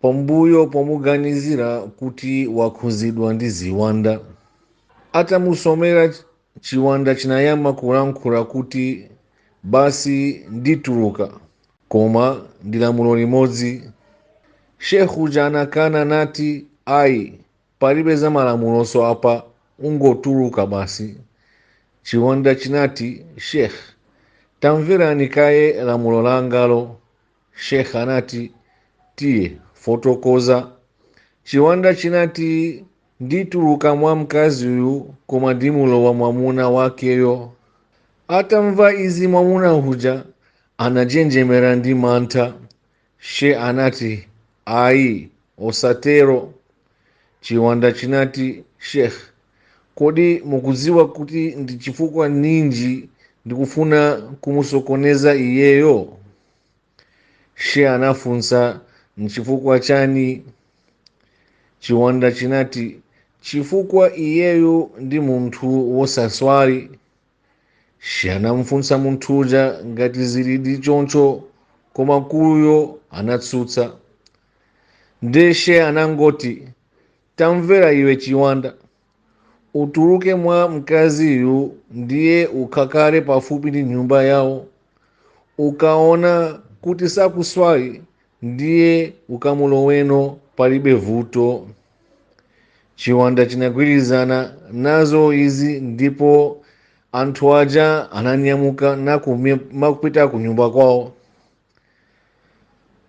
Pambuyo pomuganizira kuti wakhuzidwa ndi ziwanda, atamusomera chiwanda chinayamba kulankhula kuti basi ndituluka koma ndi lamulo limodzi. Sheikh uja anakana nati ayi palibe za malamulonso apa ungotuluka basi. Chiwanda chinati Sheikh tamverani kaye lamulo langalo Sheikh anati tiye fotokoza. Chiwanda chinati ndituluka mwa mkazi uyu koma ndimulowa mwamuna wakeyo. Atamva izi mwamuna uja anajenjemera ndi mantha. She anati ayi osatero. Chiwanda chinati Sheikh kodi mukudziwa kuti ndi chifukwa ninji ndikufuna kumusokoneza iyeyo? She anafunsa nchifukwa chani? Chiwanda chinati chifukwa iyeyu ndi munthu wosaswali. She anamfunsa munthu uja ngati zilidi choncho koma mkuluyo anatsutsa. Nde she anangoti, tamvera iwe chiwanda, utuluke mwa mkaziyu ndiye ukhakale pafupi ndi nyumba yawo ukaona kuti sakuswali ndiye ukamuloweno palibe vuto chiwanda chinagwirizana nazo izi ndipo anthu aja ananyamuka nkumapita ku nyumba kwawo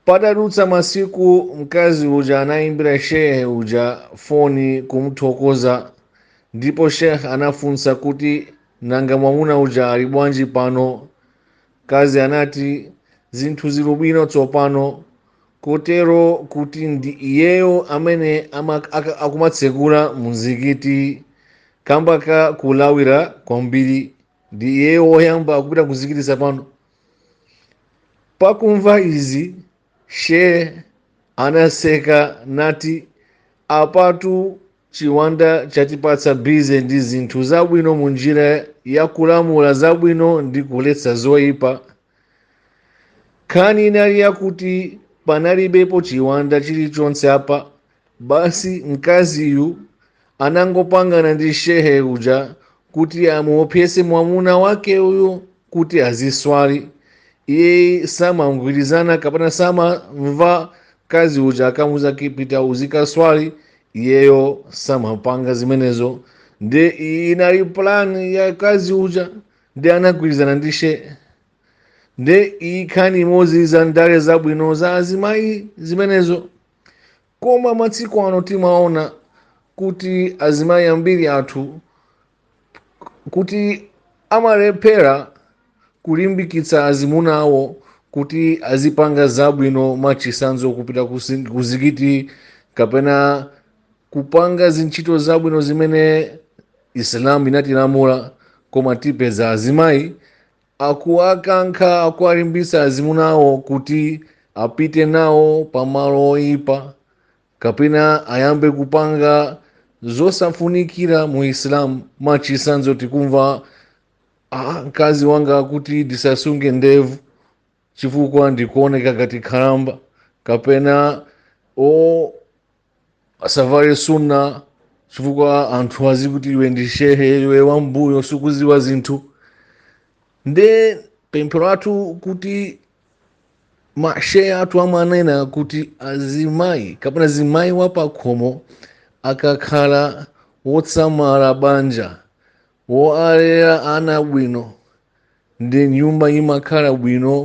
patadutsa masiku mkazi uja anaimbira shehe uja foni kumthokoza ndipo sheikh anafunsa kuti nanga mwamuna uja ali bwanji pano mkazi anati zinthu zili bwino tsopano kotero kuti ndi iyeyo amene akumatsegula muzikiti kamba ka kulawira kwambiri ndi iyeyo woyamba kupita kumzikitiko pano pakumva izi sheh anaseka nati apatu chiwanda chatipatsa bize ndi zinthu zabwino mu njira ya kulamula zabwino ndi kuletsa zoyipa nkhani inali yakuti panalibepo chiwanda chilichonse apa basi mkaziyu anangopangana ndi shehe uja kuti amuopseze mwamuna wake uyu kuti aziswali iye samagwirizana kapena samamva mkazi uja akamuuza kuti pita uzikaswali iyeyo samapanga zimenezo nde iyi inali plan ya mkazi uja nde anagwirizana ndi shehe nde iyi nkhani imodzi za ndale zabwino za azimayi zimenezo koma matsiku ano timaona kuti azimayi ambiri athu kuti amalephera kulimbikitsa azimuna awo kuti azipanga zabwino mwachitsanzo kupita kusi- kuzikiti kapena kupanga zintchito zabwino zimene isilamu inatilamula koma tipeza azimayi Akuwakankha, akuwalimbitsa azimuna awo kuti apite nawo pa malo oipa kapena ayambe kupanga zosafunikira mu Islam. Mwachitsanzo, tikumva ah, mkazi wanga akuti ndisasunge ndevu chifukwa ndikuoneka ngati khalamba, kapena o asavale sunna chifukwa anthu azikuti iwe ndi shehe iwe wambuyo sukuziwa zinthu nde pemphero lathu kuti mashehe athu amanena kuti azimayi kapena zimayi wapakhomo akakhala wotsamala banja Wowalera ana abwino ndi nyumba imakhala bwino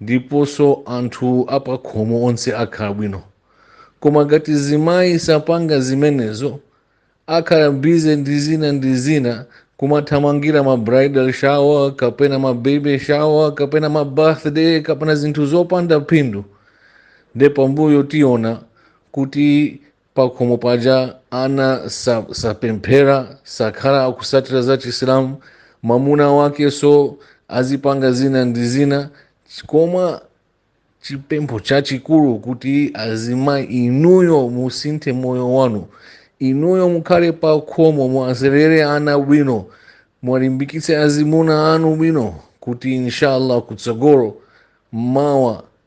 ndiponso anthu apakhomo onse akhala bwino. Koma ngati zimayi sapanga zimenezo, akhala busy ndi zina ndi zina, kumathamangira ma bridal shower kapena ma baby shower kapena ma birthday kapena zinthu zopanda phindu, nde pambuyo tiona kuti pakhomo paja ana sa- sapemphera sakhala akusatira za chisilamu mwamuna wakenso azipanga zina ndi zina koma chipempho chachikulu kuti azimayi inuyo musinthe moyo wanu inuyo mukhale pa khomo muwalerere ana bwino muwalimbikitse azimuna anu bwino kuti inshallah kutsogolo mawa